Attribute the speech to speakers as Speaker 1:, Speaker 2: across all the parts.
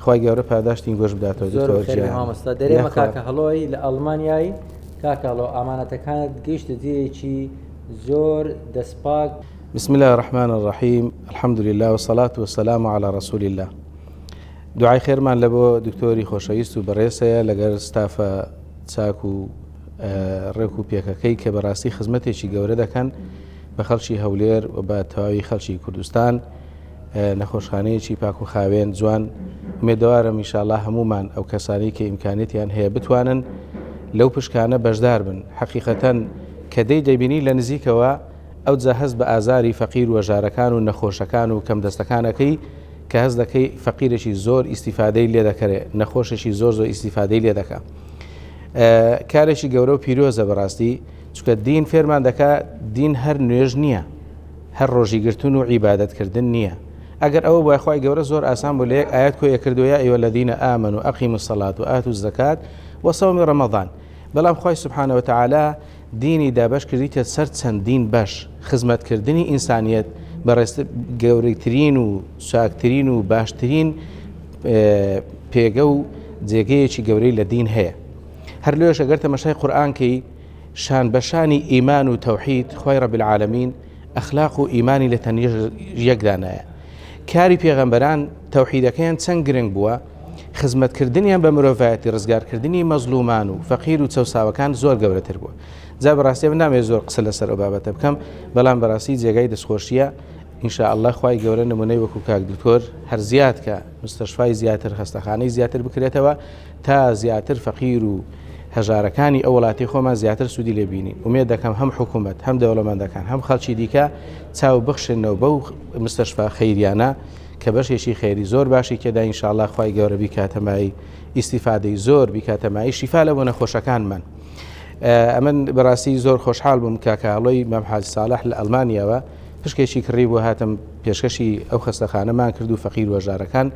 Speaker 1: خوای گەورە پاداشتین گۆش بداتەوە زۆر خێری مامۆستا دەرێ
Speaker 2: مە کاکە هەڵۆی لە ئەڵمانیایی کاکەڵۆ ئامانەتەکانت گەیشتە جێیەکی زۆر دەستپاک بسم الله
Speaker 1: الرحمن الرحیم الحمد لله وصلاة وسلام على رسول الله دوعای خێرمان لە بۆ دکتۆری خۆشەویست و بەڕێسەیە لەگەر ستافە چاک و ڕێک و پێکەکەی کە بەڕاستی خزمەتێکی گەورە دەکەن بە خەڵکی هەولێر و بە تەواوی خەڵکی کوردستان نەخۆشخانەیەکی پاک و خاوێن جوان مێدەوارم میشاءله هەمومان ئەو کەسانی کە ئیمکانێتیان هەیە بتوانن لەو پشکانە بەشدار بن حقیقەتەن کە دەی دەبینی لە نزیکەوە ئەو جە هەست بە ئازاری فەقیر و ژارەکان و نەخۆشەکان و کەم دەستەکانەکەی کە هەز دەکەی فەقیرێکی زۆر ئیسیفادەی لێ دەکەێ نەخۆشێکی زۆر زۆر ئیسیفادەی لێ دەکە کارێکی گەورە و پیرۆزە بەڕاستی چکە دین فێرمان دەکا دین هەر نوێژ نییە هەر ڕۆژی گرتن و عیبادەت کردن نییە ئەگەر ئەوە بوایە خوای گەورە زۆر ئاسان بوو لە یەک ئایەت کۆی ئەکردو یا ایها الذین آمنوا اقیموا الصلاة و آتوا الزکاة و صوم رمضان بەڵام خوای سبحانە وتعالی دینی دابەش کردیتە سەر چەندین بەش خزمەت کردنی ئینسانیەت بەڕێز گەورەترین و چاکترین و باشترین پێگە و جێگەیەکی گەورەی لە دین هەیە هەر لۆش ئەگەر تەمەشای قورئان کەی شان بە شانی ئیمان و تەوحید خوای رب العالمین ئەخلاق و ئیمانی لە تەنیش یەکدانایە کاری پێغەمبەران تەوحیدەکەیان چەند گرنگ بووە خزمەتکردنیان بە مرۆڤایەتی ڕزگارکردنی مەزلومان و فەقیر و چەساوەکان زۆر گەورەتر بووە جا بەڕاستی من نامێ زۆر قسە لەسەر ئەو بابەتە بکەم بەڵام بەڕاستی جێگای دەستخۆشیە ئینشاء الله خی گەورە نمونەی وەکو کاک دکتۆر هەر زیاد کە مستەشفای زیاتر خستەخانەی زیاتر بکرێتەوە تا زیاتر فەقیر و هەژارەکانی ئەو وڵاتەی خۆمان زیاتر سوودی لێ بینین ئومێد دەکەم هەم حکوومەت هەم دەوڵەمەندەکان هەم خەڵکی دیکە چاو بخشنەوە بەو مستەشفا خەیریانە کە بەشێکی خێری زۆر باشی کێدا ئینشاءاللە خوای گەورە بیکاتەمایی ئیسیفادەی زۆر بیکاتەمایی شیفا لە بۆ نەخۆشەکانمان. ئەمن بەڕاستی زۆر خۆشحال بووم کاکەڵۆی مەمحاج ساڵح لە ئەلمانیاوە پشکێکی کڕی بۆ هاتم پێشکەشی ئەو خەستەخانەمان کرد و فەقیر وەژارەکان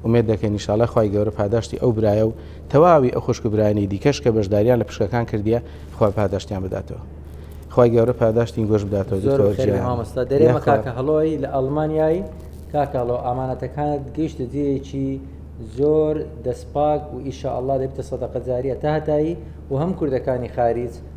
Speaker 1: ئومێد دەکەین ان شاءاللە خوای گەورە پاداشتی ئەو برایە و تەواوی ئەو خوشک و برایانی دیکەش کە بەشداریان لە پشکەکان کردیە خوا پاداشتیان بداتەوە خوای گەورە پاداشتین گۆش بداتەوە دکتۆر خێر جیان مامۆستا دەرێ
Speaker 2: مە کاکە هەڵۆی لە ئەڵمانیایی کاکەڵۆ ئامانەتەکانت گەیشتە جێیەکی زۆر دەستپاک و ئیشە ئەڵا دەبتە سەدەقەجاریە تاهتایی و هەم کوردەکانی خارج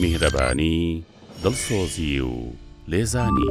Speaker 3: میهرەبانی، دڵسۆزی و لێزانی.